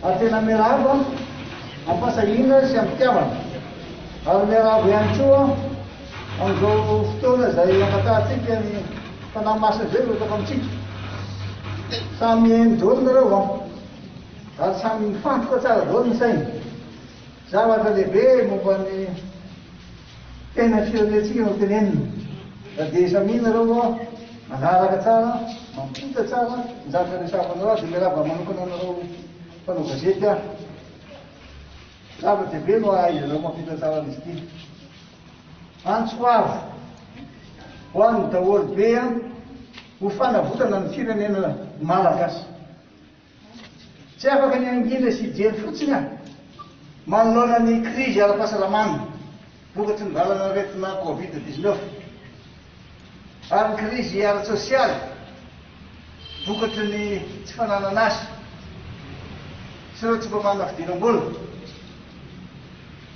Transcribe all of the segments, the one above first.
A Tena miarahaba, am-pahasahiana sy am-pitiavana ary miarahaba ihany koa amin'izao fotoana izay hangatahantsika ny Fanahy Masina izay mirotsaka amintsika. Samy mihaino daholo nareo an, ary samy mifantoka tsara daholo ny saina. Zavatra lehibe momba ny Tena firenentsika no tenenina. Raha dia samy ianareo aloha manaraka tsara, mampita tsara ny zavatra resahanareo aho dia miarahaba manokana anareo mpanao gazety aho. Zava-dehibe no ahaizanareo mampita tsara an'izy ity. Antso avo ho an'ny daholo be an! Ho fanavotana ny firenena malagasy. Tsy afaka ny hangina sy hijery fotsiny aho manoloana ny krizy ara-pahasalamana vokatry ny valan'aretina Covid dix neuf ary ny krizy ara-tsosialy vokatry ny tsy fananana asa sy ireo tsy mba manana fidiram-bola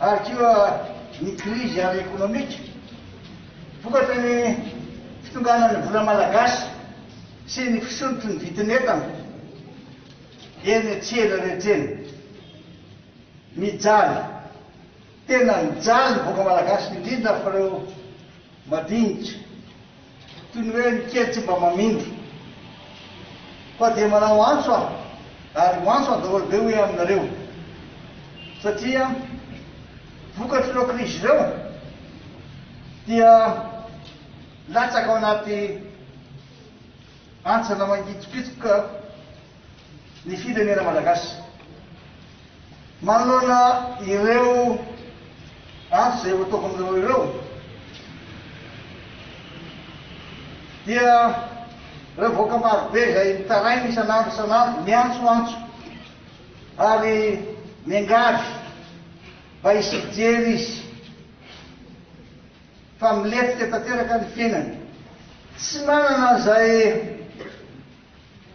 ary koa ny krizy ara-ekonomika vokatry ny fitonganan'ny vola malagasy sy ny fisotro ny vidin'entana eny an-tsena rehetra eny. Mijaly, tena mijaly ny vahoaka malagasy indrindra fa ireo madinika, toy ny hoe ny kely tsy mba mamindra. Fa dia manao antso aho ary ho antso an-daholo be hoe aminareo satria vokatr'ireo krizy ireo dia. Latsaka ao anaty hantsana mangitsokitsoka ny firenena malagasy. Manoloana ireo antso izay efa tokony ireo dia ireo vahoaka marobe izay mitaraina isan'andro isan'andro miantsoantso ary miangavy mba hisy fijery izy. fa milentika tanteraka ny fiainany. Tsy manana izay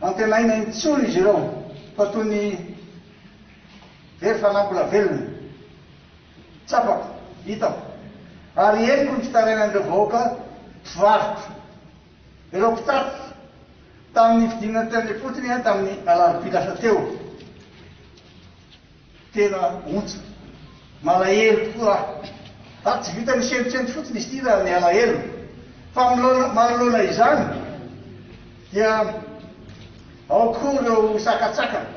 antenaina intsony izy ireo fa toy ny very fanahy mbola velona. Tsapako, hitako, ary henoko ny fitarainan'ireo vahoaka mpivarotra, ireo mpitatitra, tamin'ny fidinana teny am-potony tamin'ny alarobia lasa teo. Tena ontsa. Malahelo tokoa aho. Ary tsy vitan'ny sentosento fotsiny izy ity raha ny alahelo fa amlona manoloana izany dia ao koa ireo sakatsakana,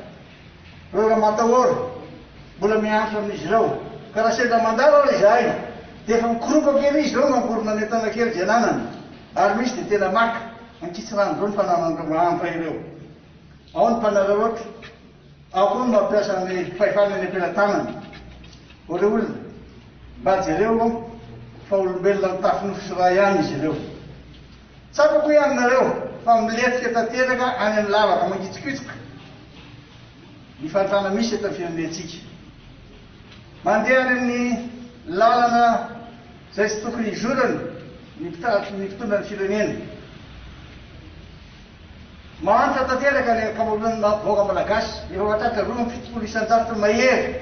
ireo ramatahora mbola miantra amin'izy ireo. Ka raha sendra mandalo ary izahay dia efa mikoroka kely izy ireo mamorona ny entana kely izay ananany ary misy dia tena maka ankitsirano ireo ny fananan'ireo mahantra ireo. Ao ny mpanararaotra. Ao koa ny mampiasa ny fahefana eny am-pelatanany. O ry olona, mba jereo aho fa olombelona mitafy nofo sy ra ihany izy ireo. Tsapako hoe aminareo fa milentika tanteraka any amin'ny lavaka mangitsokitsoka ny fahantrana misy eto amin'ny firenentsika. Mandeha any amin'ny lalana izay tsy tokony hizorany ny mpitondra ny firenena. Mahantra tanteraka ny ankamaroan'ny maha-bôga malagasy, ireo hatratra roa amby fitopolo isan-jato mahery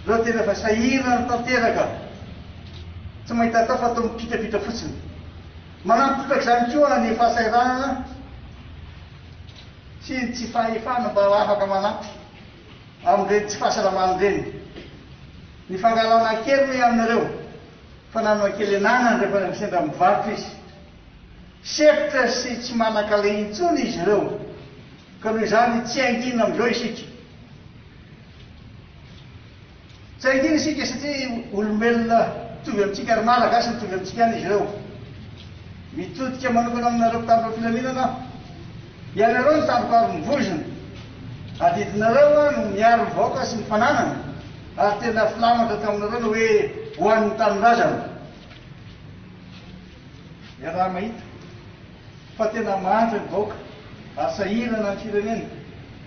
ireo tena efa sahirana tanteraka, tsy mahita atao fa toa mipitrapitra fotsiny. Manampy trotraka izany koa ny fahasahiranana sy ny tsy fahefana mba afaka manampy amin'ireny tsy fahasalamana ireny. Ny fangalarana kely hoy aminareo fa nanana kelenana rehefa sendra mivarotra izy. Sepotra sy tsy manan-kaleha intsony izy ireo, ka noho izany tsy hangina amin'izao isika. Tsy hangina isika satria olombelona mitovy amintsika ary Malagasy mitovy amintsika ihany izy ireo. Mitodika manokana aminareo mpitandro ny filaminana aho. Ianareo no tandroko ary ny vozona. Adidinareo aho no miaro ny vahoaka sy ny fananany ary tena filamatra taminareo ny hoe ho an'ny tanindrazana. Iaraha-mahita fa tena manja ny vahoaka ary sahirana ny firenena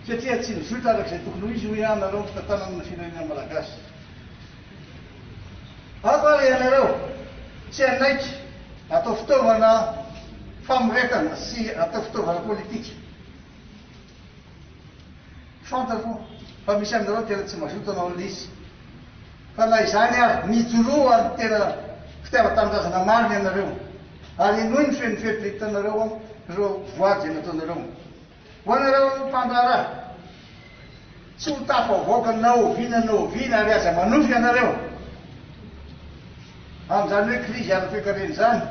satria tsy nizotra araka izay tokony ho izy hoy aho nareo ny fitantanana ny firenena malagasy. Ato ary ianareo tsy hanaiky atao fitaovana famoretana sy atao fitaovana politika. Fantako fa misy aminareo tena tsy mazoto hanao lisy, fa na izany ary, mijoroa ny tena fitiavan-tanindrazana marina ianareo, ary henoy ny feon'ny fieritreretanareo amin'ireo voady izay nataonareo. Ho anareo mpandraharaha, tsy ho tafavoaka na oviana na oviana, ary aza manofy ianareo amin'izany hoe krizy ara-toekarena izany.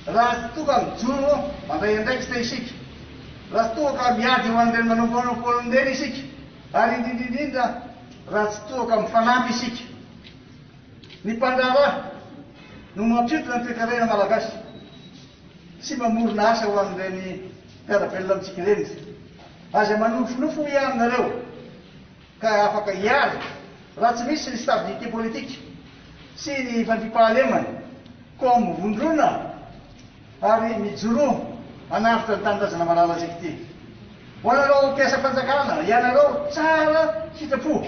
Raha toa ka mijoro mandray andraikitra isika, raha toa ka miady ho an'ireny manao monopole ireny isika, ary indrindra indrindra raha tsy toa ka mifanampy isika. Ny mpandraharaha no mampiompina ny toekarena malagasy sy mamorona asa ho an'ireny mpiara-belona amintsika ireny. Aza manofinofy hoy aho aminareo. ka afaka hiala raha tsy misy ny stabilité politique sy ny fandriampahalemana koa mivondrona ary mijoroa hanavotra ny tanindrazana malalatsika ity ho anareo mpiasam-panjakana ianareo tsara sitrapo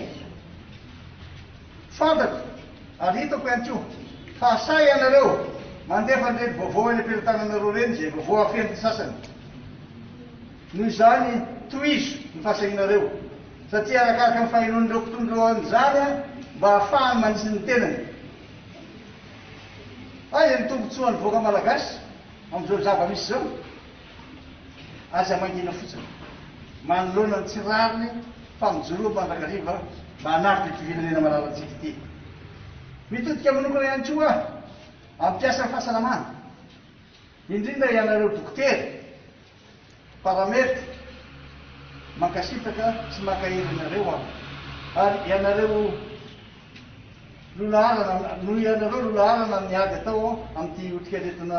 fantako ary hitako ihany koa fa sahy ianareo mandefa an'ireny vaovao eny am-pelatananareo ireny izay vaovao afen'ny sasany Noho izany, tohizo ny fahasahianareo, satria arakaraka ny fahenoan'ireo mpitondra eo amin'izany, mba hahafahany manitsy ny tenany. Aiza ny tombontsoa an'ny vahoaka malagasy amin'izao zava-misy izao? Aza mangina fotsiny, manoloana ny tsy rariny, fa mijoroa mandrakariva mba hanaritra ity firenena malalantsika ity. Mitodika manokana ihany koa amin'ny mpiasan'ny fahasalamana, indrindra ianareo dokotera, Paramerdy, mankasitraka sy mankahery anareo aho. Ary ianareo lolaharana, noho ianareo lolaharana amin'ny ady atao amin'ity otrikaretina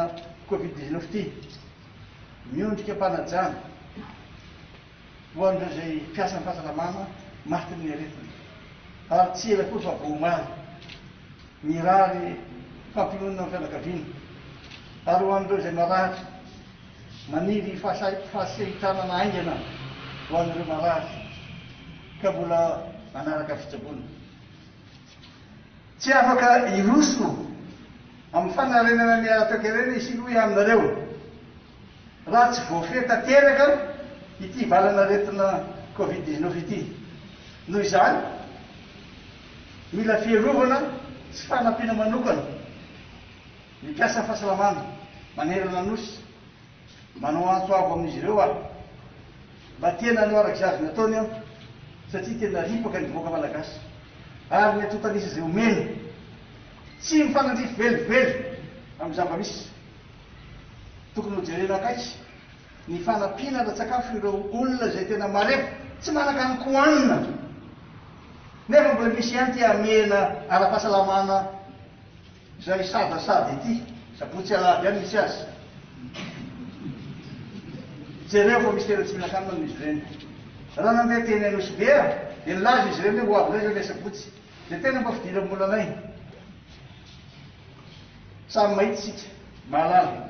covid dix neuf ity, miondrika am-panajana ho an'ireo izay mpiasan'ny fahasalamana matin'ny aretina. Ary tsy ela akory fa vao omaly. Mirary fampiononana amin'ny fianakaviana. Ary ho an'ireo izay marary. Maniry fahasehitranana haingana ho an'ireo marary ka mbola manaraka fitsaboana. Tsy afaka hiroso amin'ny fanarenana ny ara-toekarena i Sinoa Ihaminareo raha tsy voafehy tanteraka ity valan'aretina Covid dix-neuf ity. Noho izany, mila fiarovana sy fanampiana manokana. Ny mpiasa fahasalamana manerana ny Nosy manao antso avo amin'izy ireo aho mba tena hanao araka izay azony atao ny ampy satria tena ripaka ny vahoaka malagasy ary ny antontan'isa izay omena tsy mifanandrify velively amin'ny zava-misy. Tokony ho jerena akaiky ny fanampiana ara-tsakafo ireo olona izay tena marefo tsy manan-kanina kohanina nefa mbola misy ihany te hamehena ara-pahasalamana Izay sadasada ity sabotsy alahady any misy azy. Jereo fa misy tena tsy mihinan-kanina amin'izy ireny. Raha nandeha teny Anosibe aho dia nilaza izy ireny hoe ho avy indray izay ilay sabotsy. Dia tena mba fidiran'ny mbola anay. Samy mahita isika, mahalala.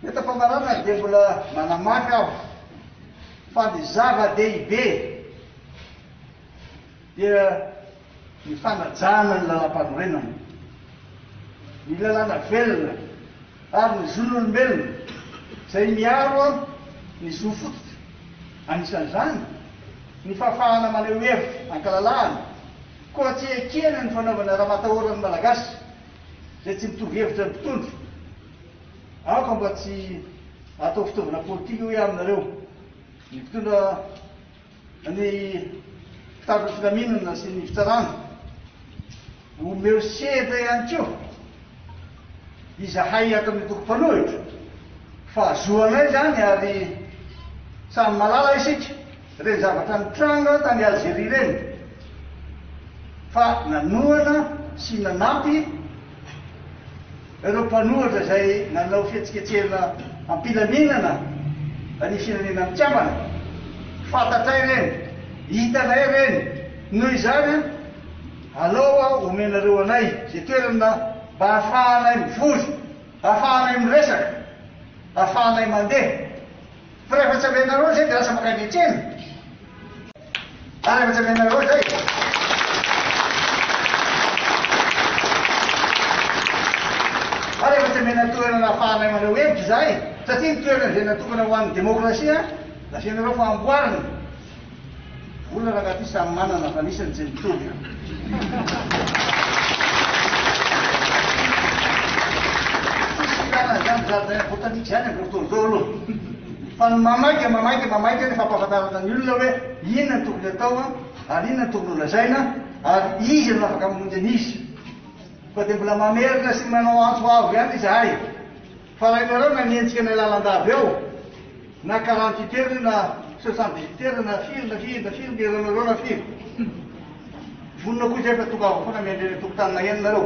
Eto am-pamaranana dia mbola manamafy aho fa ny zava-dehibe, dia ny fanajana ny Lalampanorenana, ny lalàna velona ary ny zon'olombelona izay miaro ny zo fototra, anisan'izany ny fahafahana maneho hevitra an-kalalahana, koa tsy ekena ny fanaovana ramatahoran'ny Malagasy izay tsy mitovy hevitra ny mpitondra. Aoka mba tsy atao fitaovana politika hoy aho aminareo ny mpitondra. Ny mpitandro ny filaminana sy ny fitsarana, omeo seza ihany koa izahay ato amin'ny antoko mpanohitra. Fahazoanay izany ary samy mahalala isika ireny zavatra nitranga tany Algerie ireny fa nanohana sy nanampy. Ireo mpanohitra izay nanao fihetsiketsehana am-pilaminana ny Firenena Mikambana. Fantatray ireny, hitanay ireny, noho izany an, alao aho omenareo anay izay toerana mba hahafahanay mivory, hahafahanay miresaka, hahafahanay mandeha. Fa rehefa tsy amenareo izay dia lasa mankany an-tsena. Fa rehefa tsy amenareo izay. Fa rehefa tsy amena toerana ahafahanay maneho hevitra izahay, satria ny toerana izay natokana ho an'ny demokrasia, lazainareo fa amboarina. Olona raha anaty samy manana fa misy ny tsy mitovy an. Tsisy ilana izany jardin botanique izany amin'izao fotoana izao aloha. Fa ny mamaika, mamaika, mamaika ny fampahafantarana ny olona hoe inona no tokony atao an, ary inona no tokony ho lazaina ary iza no afaka mamonjy an'iza. Fa dia mbola mamerina sy manao antso avo ihany izahay. Fa raha ianareo nanenjika ilay lalandà avy eo, na quarante huit heures io na soixante dix huit heures na firy na firy na firy ny heure-nareo na firy, vonona koa izay fa tongava foana miandry eny an-tokotany maheno nareo.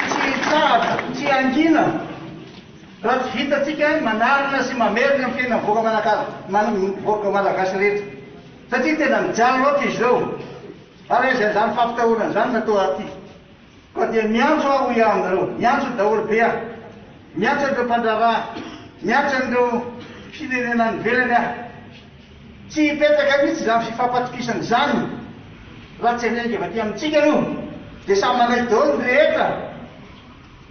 Tsy hitsahatra, tsy hangina raha tsy vitantsika ny manarina sy mamerina amin'ny fiainan'ny vahoaka Manakara, vahoaka Malagasy rehetra. Satria tena mijaly loatra izy ireo. Ary aiza izany fampitahorana izany raha toa aty koa dia miantso aho hoy aho aminareo, miantso daholo be aho, miantso an'ireo mpandraharaha, miantso an'ireo firenena any ivelany aho. Tsy hipetraka mihitsy izany fifampatokisana izany raha tsy alehan'ny avy aty amintsika aloha dia samy manaiky daholo ny rehetra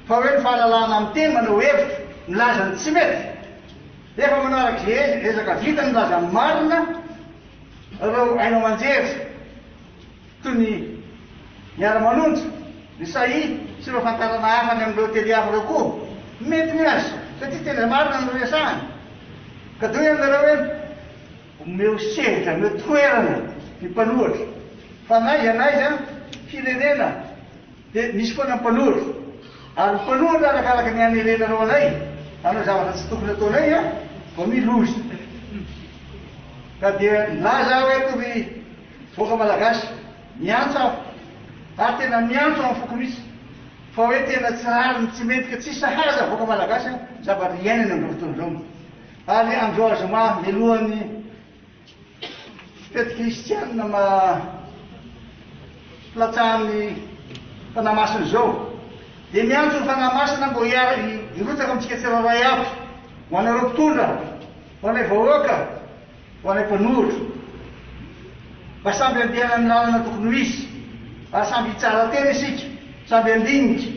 fa hoe ny fahalalahana miteny, manao hevitra, milaza ny tsy mety, efa manao arak'izay ezaka vitany milaza ny marina, Ireo haino aman-jery toy ny miara-manonja, ny Sahy sy ireo fantarana hafa any amin'ireo teliafo ireo koa mety ny azo satria tena marina ny resahany. Kadoy aminareo hoe omeo sehatra, omeo toerana ny mpanohatra fa na iza na iza firenena, Dia misy foana ny mpanohatra. Ary ny mpanohatra arakaraka ny hanerenanao anay hanao zavatra tsy tokony ataonay an, vao mi loza. Ka dia nilaza aho eto ry vahoaka malagasy, miantsa aho, ary tena miantso amin'ny foko mihitsy, fa hoe tena tsy rariny, tsy mety ka tsy sahaza vahoaka malagasy an, zavatra iainany amin'izao fotoana izao. Ary Androy Zoma, mialohan'ny. Fety kristianina maha-mplatsahan'ny Fanahy Masina izao, dia miantso ny Fanahy Masina mba hirotsaka amintsika tsirairay avy, ho anareo mpitondra, ho anay vahoaka, ho anay mpanoratra, mba samby handehana amin'ny lalana tokony ho izy, ary samby hitsara tena isika, samby handinika.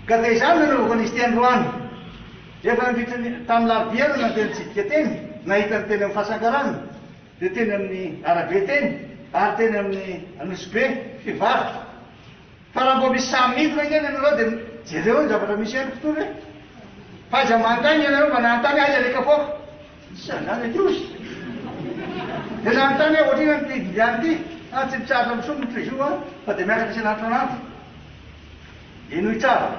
Ka dia izany no anaovako an'izy ity androany. Dia nandritra ny tamin'ny larobia no nandeha nitsidika teny, nahita ny teny amin'ny fasankarana, dia teny amin'ny arabe teny, ary teny amin'ny Anosibe, mpivarotra. Fa raha mbola misy saha midina ange ny anareo dia jereo ny zavatra misy eny mpitory hoe, fa aiza manontany ianareo mba nanontany aiza ilay kapoaka? Tsy an'izany ilay kiosy. Dia nanontany hoe ohatr'inona ity Liliane ity? An, tsy mitsahatra misoa moa Trizou an, fa dia miakatra isan'andro isan'andro. Henoy tsara.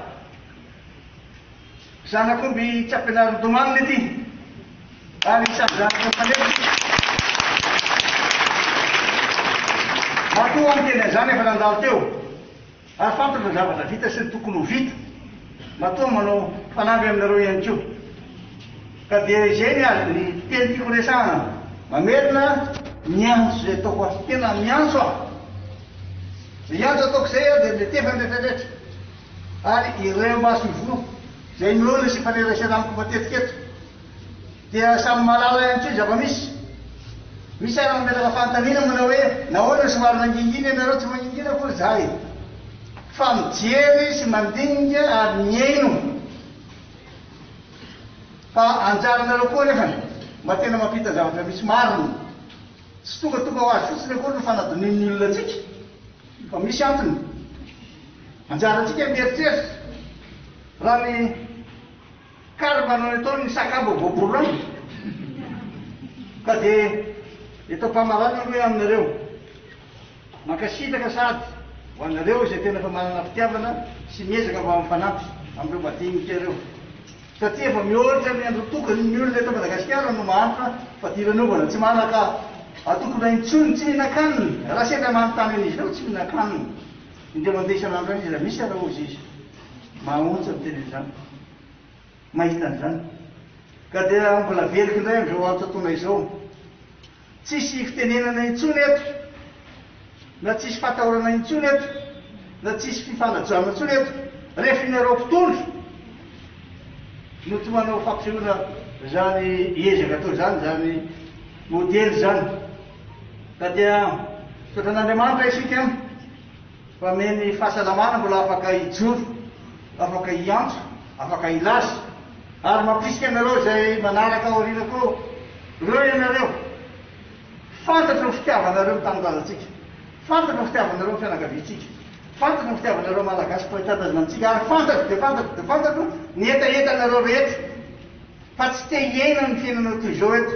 Zanak'omby tsy ampianaro domany ity ary samy zanaka mifanefy. Matoa niteny an'izany efa nandalo teo ary fantatra ny zavatra vita sy ny tokony ho vita. Matoa manao fanamby aminareo ihany koa. Ka dia izay ny azo ny teny tiako resahana. Mamerina. Miantso izay ataoko aho. Tena miantso aho. Izay hiantso ataoko izay aho dia miantefa ny rehetra rehetra. Ary ireo maso ivoho izay noana sy nifanerasera amiko matetika eto dia samy mahalala ihany koa ny zava-misy. Misy ary mametraka fanontaniana manao hoe nahoana no somary mangingina ianareo tsy mangingina akory izahay fa mijery sy mandinika ary mihaino fa anjaranareo koa anefany mba tena mampita zavatra misy marina. Tsy tonga tonga ho azy fotsiny akory ny fanadonian'ny olona antsika. Fa misy antony. Anjarantsika ny mieritreritra. Raha ny karma no nataon' ny sakabo voaborana, ka dia eto am-pamaranana aloha aminareo. Mankasitraka sady ho anareo izay tena efa manana fitiavana sy miezaka mba mifanampy amin'ireo madinika ireo. Taty efa mihoatra ny andro tokony ny olona eto Madagasikara no mahantra fa diran'ovana tsy manaka atokona intsony tsy hihinan-kanina raha sendra manontany an'izy ireo tsy mihinan-kanina indray mandeha isan'andro any izy raha misy ary hozy izy mahaontsa miteny an'izany mahita an'izany ka dia mbola veriky indray amin'izao andro totoana izao Tsisy fitenenana intsony eto, na tsisy fatahorana intsony eto, na tsisy fifanajoana intsony eto, rehefa ianareo mpitondra no tsy manao fampisehoana izany ezaka atao izany, izany modely izany, ka dia misaotra an'Andriamanitra isika. Mpamehy ny fahasalamana mbola afaka hijoro, afaka hiantso, afaka hilaza. Ary mampirisika anareo izay manaraka aoriana koa, reo ianareo, fantatro ny fitiavanareo ny tanindrazantsika, fantatro ny fitiavanareo ny fianakaviantsika, fantatro ny fitiavanareo Malagasy mpoy tanindrazana amintsika, ary fantatro dia fantatro dia fantatro ny hetahetanareo rehetra, fa tsy te hiaina ny fiainana toy izao eto.